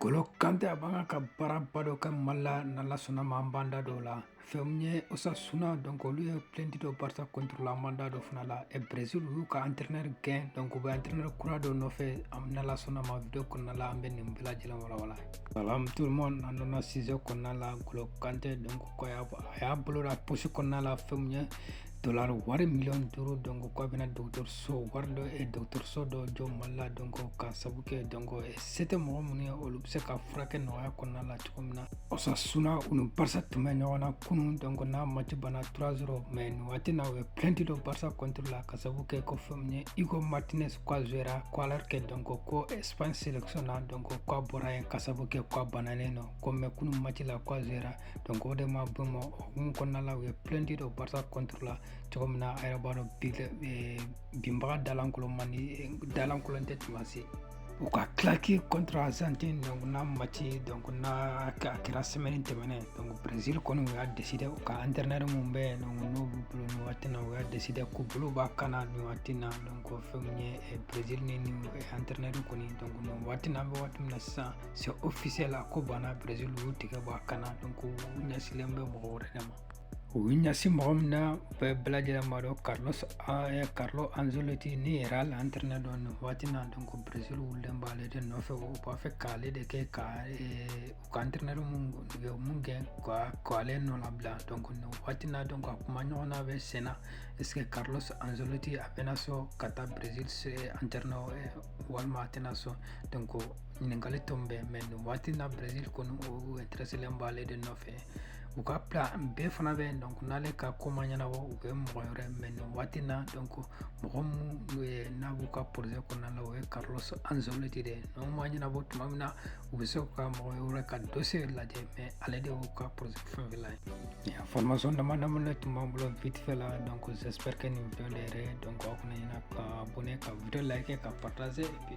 golo kante a b'a kan ka baaraba dɔ kɛ mali la n'ala sɔnna ma an b'an da don o la fɛn min ye osasuna donc olu ye plainte don barca contre la an b'an da don o fana la e brésil u y'u ka entraîneur gɛn donc u bɛ entraîneur kura dɔ nɔfɛ n'ala sɔnna ma video kɔnɔna la an bɛ nin bɛɛ lajɛlen walawala salam tout le monde an donna sujet kɔnɔna la golo kante donc ko a y'a bolo don a poche kɔnɔna la fɛn min ye dolar wari miliyɔn duuru donc k'a bɛna dɔgɔtɔrɔso wari dɔ dɔgɔtɔrɔso dɔ jɔ mali la donc k'a sabu kɛ donc Se tɛ mɔgɔ minnu ye olu bɛ se ka furakɛ nɔgɔya kɔnɔna la cogo min na Osasuna u ni Barca tun bɛ ɲɔgɔn na kunun donc n'a match banna 3-0 mais nin waati in na u ye plainte don Barca contre la ka sababu kɛ ko fɛn min ye Inigo Martinez ko a jouera ko alors que donc ko Espagne sélection na donc ko a bɔra yen ka sababu kɛ ko a banalen don ko mais kunun match la ko a jouera donc o de ma bɛn u ma hukumu kɔnɔna la u ye plainte don Barca contre la cogo min na aw yɛrɛ b'a dɔn binbaga dalankolon man di dalankolon tɛ tuma si u ka claque contre argentine donc n'a match donc n'a kɛra semaine tɛmɛnen donc brésil kɔni u y'a deside u ka entraîneur mun bɛ yen donc n'o b'u bolo nin waati na u y'a deside k'u bolo b'a kan na nin waati na donc fɛn min ye eh, brésil ni nin eh, entraîneur kɔni donc nin waati na an bɛ waati min na sisan c'est officiel a ko banna brésil u y'u tigɛ bɔ a kan na donc u ɲɛsilen bɛ mɔgɔ wɛrɛ de ma U y'u ɲɛsin mɔgɔ min na bɛɛ lajɛlen b'a dɔn Carlos eh, Carlo Ancelotti ni Real entraîneur don nin waati na donc Brésil wulilen b'ale de nɔfɛ u b'a fɛ k'ale de kɛ ka eh, u ka entraîneur mun u ye mun gɛn ka k'ale nɔ labila donc nin waati na donc a kumaɲɔgɔnya bɛ sen na est ce que Carlos Ancelotti a bɛna sɔn ka taa Brésil entraîneur eh, walima a tɛna sɔn donc ɲininkali tun bɛ mais nin waati na Brésil kɔni u intéresselen b'ale de nɔfɛ u ka plan B fana bɛ yen donc n'ale ka ko ma ɲɛnabɔ u bɛ mɔgɔ wɛrɛ mais nin waati na donc mɔgɔ min n'a b'u ka projet kɔnɔna la o ye carlos ancelotti de ye n'o ma ɲɛnabɔ tuma min na u bɛ se ka mɔgɔ wɛrɛ ka dossier lajɛ mais ale de y'u ka projet fɛn fɛn la ye information dama dama de tun b'an bolo vite fait la donc j'espère que nin video diyara donc aw kana ɲina ka abonner ka video like ka partager et puis